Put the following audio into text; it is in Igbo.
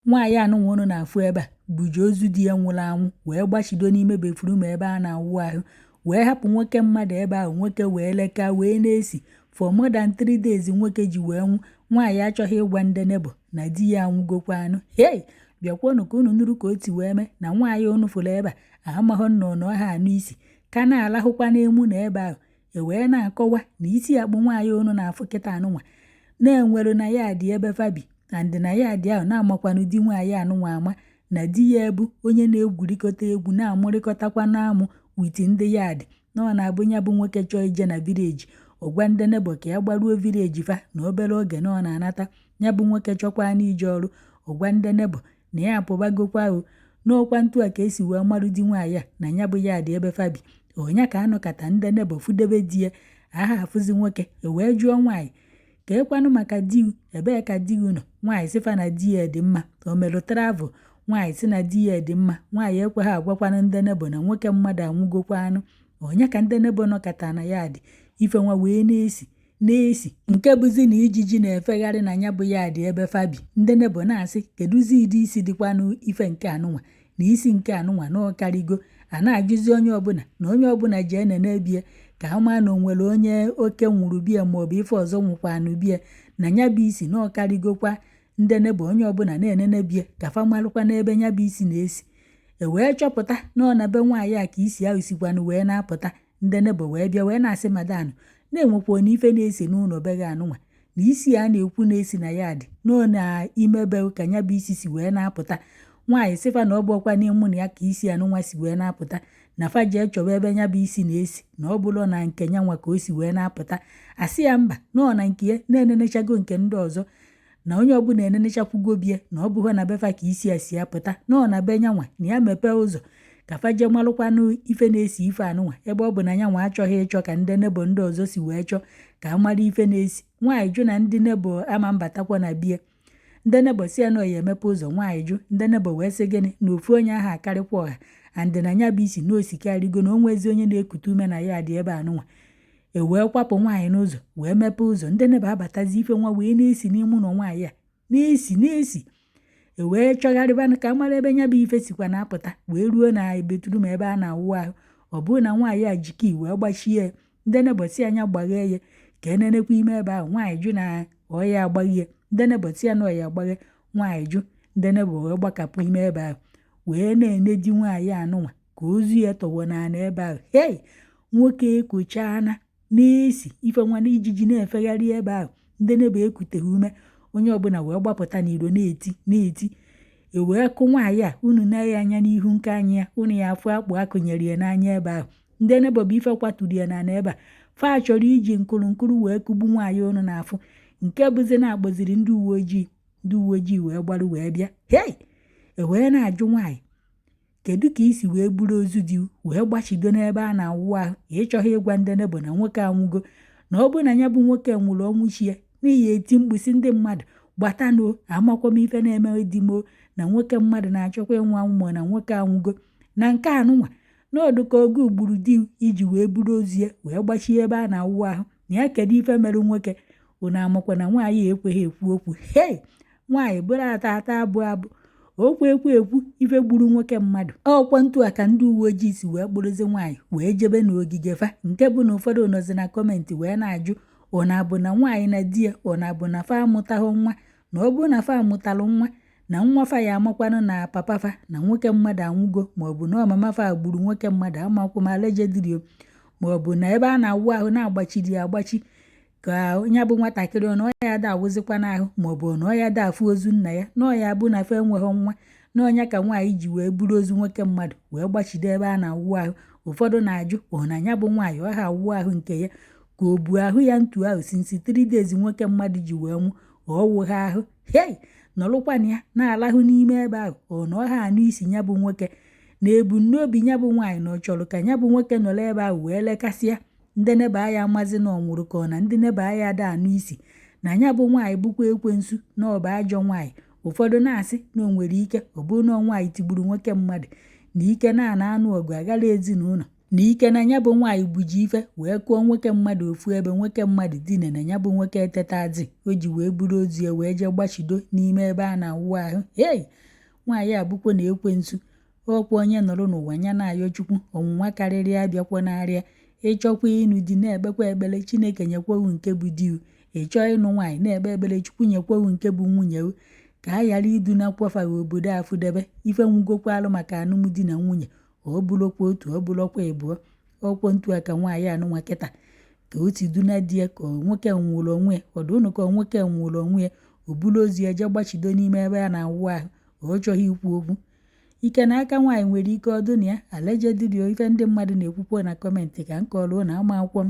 Nwaanyị anụnwa unu na-afụ ebe a buji ozu di ya nwụrụ anwụ wee gbachido n'ime bathroom ebe a na-awụ ahụ wee hapụ nwoke mmadụ ebe ahụ nwoke wee leka wee na-esi for more than three days nwoke ji wee nwụ nwaanyị achọghị ịgwa ndị neighbour na di ya anwụgokwa anwụ hei bịakwanụ ka unu nụrụ ka o si wee mee na nwaanyị unu fụrụ ebe a amaghị nnọọ na ọ ha anụ isi ka na-alahụkwa n'ime ụnọ ebe ahụ e wee na-akọwa na isi akpụ nwaanyị unu na-afụ kịta anụnwa na-enwere na yard ebe fa bi and na yard ahụ na a makwanụ di nwaanyị anụnwa ama na di ya a bụ onye na-egwurịkọta egwu na-amụrịkọtakwanụ amụ with ndị yard na ọ na-abụ ya bụ nwoke chọọ ije na village ọ gwa ndị neighbour ka ya gbaruo village fa na obere oge na ọ na-anata ya bụ nwoke chọkwanụ ije ọrụ ọ gwa ndị neighbour na ya apụbagokwa o na ọkwanụ etu a ka e si wee marụ di nwaanyị a na ya bụ yard ebe fa bi ọ nya ka a nọkata ndị neighbour fudebe di ya aha afụzi nwoke e wee jụọ nwaanyị keekwanụ maka di ebee ka di gị nọ nwaanyị sị fa na di ya dị mma o merụ travel nwaanyị sị na di ya dị mma nwaanyị ekweghị agwakwanụ ndị neighbour na nwoke mmadụ anwụgokwa anwụ ọ nya ka ndị neighbour nọkata na yard ife nwa wee na-esi na-esi nke bụzi na ijiji na-efegharị na ya bụ yard ebe fa bi ndị neighbour na-asị kedụzi ụdị isi dịkwanụ ife nke anụnwa na isi nke anụnwa na ọ karịgo a na-ajụzi onye ọbụla na onye ọbụla jee nenee bie ka a maa na o nwere onye oke nwụrụ be ya maọbụ ife ọzọ nwụkwanụ be ya na ya bụ isi na ọ karịgokwa ndị neighbour onye ọbụla na-enene be ya ka fa malụkwanụ ebe ya bụ isi na-esi e wee chọpụta na ọ na be nwaanyị a ka isi ahụ sikwanụ wee na-apụta ndị neighbour wee bịa wee na-asị madam na e nwekwanụ ife na-esi n'ụlọ be gị anụnwa na isi a na-ekwu na-esi na yard na ọ n'ime be ị ka ya bụ isi si wee na-apụta nwaanyị sị fa na ọ bụrọkwa n'ime ụnọ ya ka isi anụnwa si wee na-apụta na fa jee chọba ebe ya bụ isi na-esi na ọ bụrọ na nke ya nwa ka o si wee na-apụta a sị ya mba na ọ na nke ya na e nenechago nke ndị ọzọ na onye ọbụla enenechapụgo bie na ọ bụghị na be fa ka isi a si apụta na ọ na be nyanwa na ya mepee ụzọ ka fa jee malụkwanụ ife na-esi ife anụnwa ebe ọ bụ na nyanwa achọghị ịchọ ka ndị neighbour ndị ọzọ si wee chọọ ka a mara ife na-esi nwaanyị jụ na ndị neighbour ama abatakwa na bie ndị neighbour sị ya na ya emepe ụzọ nwaanyị jụ ndị neighbour wee sị gịnị na ofu onye aha akarịkwa ọha and na nya bụ isi na o sikarịgo na o nwezi onye na-ekute ume na yard ebe anụnwa e wee kwapụ nwaanyị n'ụzọ wee mepee ụzọ ndị neighbour abatazi ife nwa wee na-esi n'ime ụlọ nwaanyị a na-esi na-esi e wee chọgharịba ka a mara ebe nya bụ ife sikwa na-apụta wee ruo na bathroom ebe a na-awụ ahụ ọ bụrụ na nwaanyị a ji key wee gbachie ya ndị neighbour sị nya gbaghee ya ka e nenekwa ime ebe ahụ nwaanyị jụ na ọ ya agbaghie ndị neighbour sị ya na ọ ya agbaghe nwaanyị jụ ndị neighbour wee gbakapụ ime ebe ahụ wee na-ene di nwaanyị anụnwa ka ozu ya tọwọ n'ala ebe ahụ hei nwoke ekochaana na-esi ife nwa na ijiji na-efegharị ebe ahụ ndị neighbour ekuteghị ume onye ọbụla wee gbapụta n'iro na-eti na-eti ewee kụ nwaanyị a unu na-ene anya n'ihu nke anya ya unu ya afụ akpụ a kụnyere ya n'anya ebe ahụ ndị neighbour bụ ife kwaturu ya n'ana ebe a fa chọrọ iji nkụrụ nkụrụ wee kụgbu nwaanyị unu na-afụ nke bụzi na a kpọziri ndị uwe ojii ndị uwe ojii wee gbarụ wee bịa hei ewee na-ajụ nwaanyị Kedu ka i si wee buru ozu di wee gbachido n'ebe a na-awụ ahụ ị chọghị ịgwa ndị neighbour na nwoke anwụgo na ọ bụ na ya bụ nwoke nwụrụ ọnwụ chi ya na ị ya eti mkpu sị ndị mmadụ gbatanụ amakwa m ife na-eme di m o na nwoke mmadụ na-achọkwa ịnwụ anwụ ma na nwoke anwụgo na nke anụnwa na ọ dụ ka ọ gị gburu di i ji wee buru ozu ya wee gbachie ebe a na-awụ ahụ na ya kedu ife mere nwoke unu amakwa na nwaanyị ekweghị ekwu okwu hei nwaanyị bụrụ ata ata abụ abụ okwu ekwu ekwu ife gburu nwoke mmadụ ọkwa ntu a ka ndị uwe ojii si wee kpụrụzi nwaanyị wee jebe n'ogige fa nke bụ na ụfọdụ nọzi na comment wee na-ajụ ọ na-abụ na nwaanyị na di ya ọ na-abụ na fa amụtaghị nwa na ọ bụrụ na fa amụtalụ nwa na nwa fa ya amakwanụ na papa fa na nwoke mmadụ anwụgo maọbụ na ọ mama fa gburu nwoke mmadụ amakwọ m allegedly o maọbụ na ebe a na-awụ ahụ na a gbachiri ya agbachi ka onye bụ nwatakịrị ọ na ọ ya ada awụzikwanụ ahụ maọbụ na ọ ya ada afụ ozu nna ya na ọ ya bụ na fa enweghị nwa na ọ nya ka nwaanyị ji wee buru ozu nwoke mmadụ wee gbachide ebe a na-awụ ahụ ụfọdụ na-ajụ ọ na ya bụ nwaanyị ọ ha awụ ahụ nke ya ka o bu ahụ ya ntu ahụ since 3 days nwoke mmadụ ji wee nwụ ọ wụghị ahụ hei nọrụkwana ya na-alahụ n'ime ebe ahụ ọ na ọ ha anụ isi ya bụ nwoke na ebumnobi ya bụ nwaanyị na ọ chọrọ ka ya bụ nwoke nọrọ ebe ahụ wee lekasịa ndị neighbour ya amazi na ọ nwụrụ ka ọ na ndị neighbour ya ada anụ isi na ya bụ nwaanyị bụkwa ekwensu na ọ bụ ajọ nwaanyị ụfọdụ na-asị na o nwere ike ọ bụrụ na nwaanyị tigburu nwoke mmadụ na ike na a na-anụ ọgụ agara ezinụlọ na ike na ya bụ nwaanyị buji ife wee kụọ nwoke mmadụ ofu ebe nwoke mmadụ dine na ya bụ nwoke etetazi o ji wee buru ozu ya wee jee gbachido n'ime ebe a na-awụ ahụ hei nwaanyị a bụkwọnụ ekwensu ọkwa onye nọrọ n'ụwa ya na-ayọ chukwu ọnwụnwa karịrị ya abịakwanarị ya ị chọkwa ịnụ di na-ekpekwa ekpere chineke nyekwewu nke bụ diu ị chọọ ịnụ nwaanyị na-ekpe ekpere chukwu nyekwewu nke bụ nwunye ka a ghara iduna kwafaghị obodo afụdebe ife nwụgokwalụ maka alụmdi na nwunye ọ bụlụkwa otu ọ bụlụkwa ịbụọ ọkwọ ntu a ka nwaanyị anụnwa kịta ka o si duna di ya ka nwoke nwụrụ onwe ya ọ dụnụ ka nwoke nwụrụ onwe ya o buru ozu ya jee gbachido n'ime ebe a na-awụ ahụ ọ chọghị ikwu okwu ike na aka nwaanyị nwere ike ọ dụ na ya allegedly o ife ndị mmadụ na-ekwukwo na comment ka m kọrọ na amakwọ m